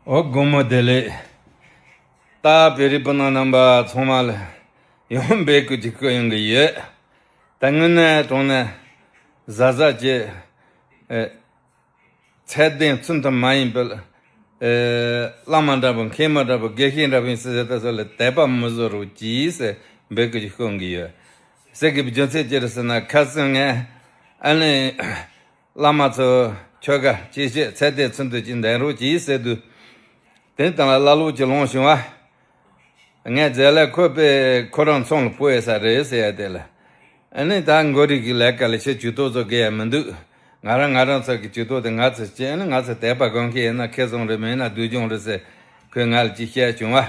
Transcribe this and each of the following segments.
ཨོ་དགོང་མོ་བདེ་ལེགས། རྟ་བེ་རི་སྤུན་ཟླ་རྣམ་པ་ཚང་མ་ལ་ཡང་འབད་བསྐུལ་གྱི་སྐུལ་ཡོང་གི་ཡོད། ད་དངོས་གནས་དྲང་གནས་གཟའ་གཟའ་བྱས། ཚད་ལྡན་བཙུན་ཐབས་མ་ཡིན་པའི། བླ་མ་འདྲ་བོ་མཁན་མ་འདྲ་བོ་དགེ་བཤེས་འདྲ་བོ་ཡིན་ཟེར་ཟེར་ད་གཟོད་ལ་དད་པ་མི་བཟོ་རོགས་གྱིས་ཟེར་འབད་བསྐུལ་གྱི་སྐུལ་གི་ཡོད། ཟེར་གི་བརྗོད་ཚད་ཅི་རེད་ཟེར་ན་ཁ་སང་ངས་ཨ་ལན། བླ་མ་ཚོས་ཁྱོད་ཀ་ཅི་བྱེད་ཚད་དེ་ཚུན་དུ་ཅི་འདེང་རོགས་གྱིས་ཟེར་དུས། དེང་དང་བླ་ལོག་གྱི་ལོང་བྱུང་བ། ངས་རྫས་ལས་ཁོ་པས་ཁོ་རང་ཚོང་ལ་བུ་ཨེ་ས་རེད་ཟེར་ཡ་དེ་ལ། ཨེ་ནི་ད་མགོ་རིག་གི་ལས་ཀ་ལས་ཕྱིར་ཇུས་གཏོགས་བཟོ་དགོས་ཡ་མི་འདུག་ང་རང་ང་རང་ཚོ་གི་ཇུས་གཏོགས་དེ་ང་ཚོས་བྱེད་ཨེ་ནི་ང་ཚོ་དད་པ་དགོན་གྱི་ཨེ་ན་ཁེ་བཟང་རེད་མ་ཨེ་ན་སྡུག་སྦྱོང་རེད་ཟེར་ཁོས་ང་ལ་ཅི་བཤད་བྱུང་བ།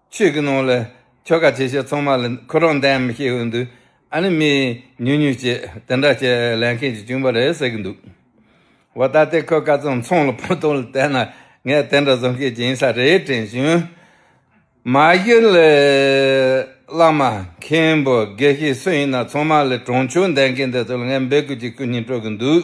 ཆོས་ཀྱི་ནང་ལ་ཁྱོ་ག་ཆེ་ཆེ་ཚང་མ་ལ་ཁོ་རང་འདེམས་མི་ཤེས་འོས་འདུག་ཨ་ནི་མི་ཉུང་ཉུང་ཅིག་དེ་འདྲ་བྱེད་ལས་མཁན་གྱི་གཅུང་པ་རེད་ཟེར་གྱི་འདུག་བ་ད་ལྟའི་ཁོ་ག་ཚང་ཚང་ལ་ཕུ་ཐུང་ལ་བལྟས་ན་ངས་དེ་འདྲ་བཟོ་མཁན་གྱི་ཡིན་ས་རེད་དྲན་བྱུང། མ་གཞི་ལས་བླ་མ་མཁན་པོ་དགེ་བཤེས་སུ་ཡིན་ན་ཚང་མ་ལས་གྲོང་ཆོས་འདེམས་མཁན་དེ་ཚོ་ལ་ངས་འབོད་སྐུལ་གྱི་སྐུ་སྙིང་སྤྲོད་ཀྱི་འདུག་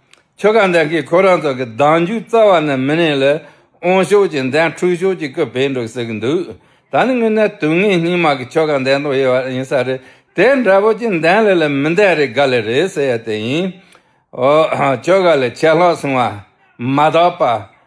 ཁྱོད་གང་འདྲ་གིས་ཁོ་རང་ཚོ་གི་གདངས་རྒྱུད་རྩ་བ་ནས་མི་ནས་ལས་འོང་ཤོག་ཅིག་འདན་འཁྲུག་ཤོག་ཅིག་སྐུ་བེད་འགྲོ་ཟེར་གི་འདུག་ད་ནི་དངོས་གནས་དུག་ལྔའི་སྙིགས་མ་གི་ཆོ་ག་འདན་ཐོག་ཡེར་བ་ཡིན་ས་རེད་དེ་འདྲ་བོ་ཅིག་འདན་ལས་ལས་མི་འདན་རེད་ག་ལས་རེད་ཟེར་ཡ་དེ་ཡིན་ཨོ་ཁྱོད་ག་ལས་ཆད་ལྷག་སོང་བ་མ་དག་པ།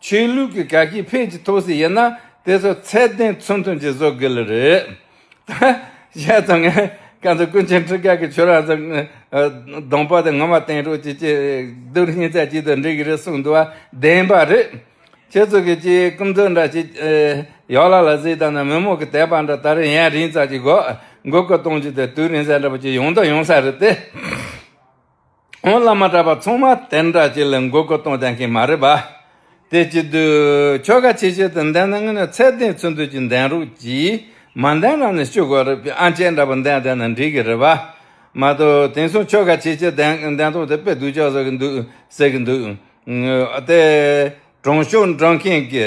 ཆོས་ལུགས་ཀྱི་དགའ་སྐྱིད་ཕལ་གྱིས་ཐོབ་སྲིད་ཡིན་ན་དེ་ཚོ་ཚད་ལྡན་ཚུལ་མཐུན་གྱིས་བཟོ་དགོས་ལེ་རེད། བཤད་ཚོ་ངས་ག་ཚོད་ཀུན་མཁྱེན་ཁྲི་ཀ་གི་ཆོས་ར་ཚོ་གདོང་པ་དེ་ངོ་མ་བསྟན་འགྲོ་གྱི་སྐྱིད་སྡུག་སྙིང་ཚད་གཅིག་ཏུ་འགྲིག་གི་རེད་གསུངས་འདུག་བ་བདེན་པ་རེད། ཁྱེད་ཚོ་གི་སྤྱིའི་རྐུབ་མཛོད་འདྲ་ཞིག་ཡོག་ལ་ལ་གཟིགས་དང་ན་མི་མོ་གི་དད་པ་འདྲ་ད་རེས་ཡན་རིང་ཙག་ཅིག་དགོས་མགོ་སྐོར་གཏོང་རྒྱུ་དེ་དུས་རིང་ཟད་འདྲ་པོ་ཅིག་ཡོང་དོགས་ཡོང་ས་རེད་དེ། ཁོང་བླ་མ་གྲྭ་པ་ཚང་མ་དེ་འདྲ་ཅིག་ལ་མགོ་སྐོར་གཏོང་ཆ་མཁན་མ་རེད་པ། དེ་གཅིག་དུས་ཆོལ་ཁ་ཆེ་ཆེ་དང་ལྡན་ན་ངེད་ནི་ཚད་ལྡན་ཚུལ་མཐུན་གྱི་འདན་རོགས་ཀྱིས་མ་འདན་ན་ནི་སྐྱུག་དགོས་རེད་པས་ཨ་ཅེ་འདྲ་པོ་འདན་བསྡད་ན་འགྲིག་གི་རེད་པ། མ་གཏོགས་དེང་སང་ཆོལ་ཁ་ཆེ་ཆེ་འདན་ཐོག་དེ་དཔེ་སྡུག་ཅག་བཟོ་གི་འདུག་ཟེར་གི་འདུག་དེ། གྲོང་ཤོག་འདྲ་མཁན་གྱི།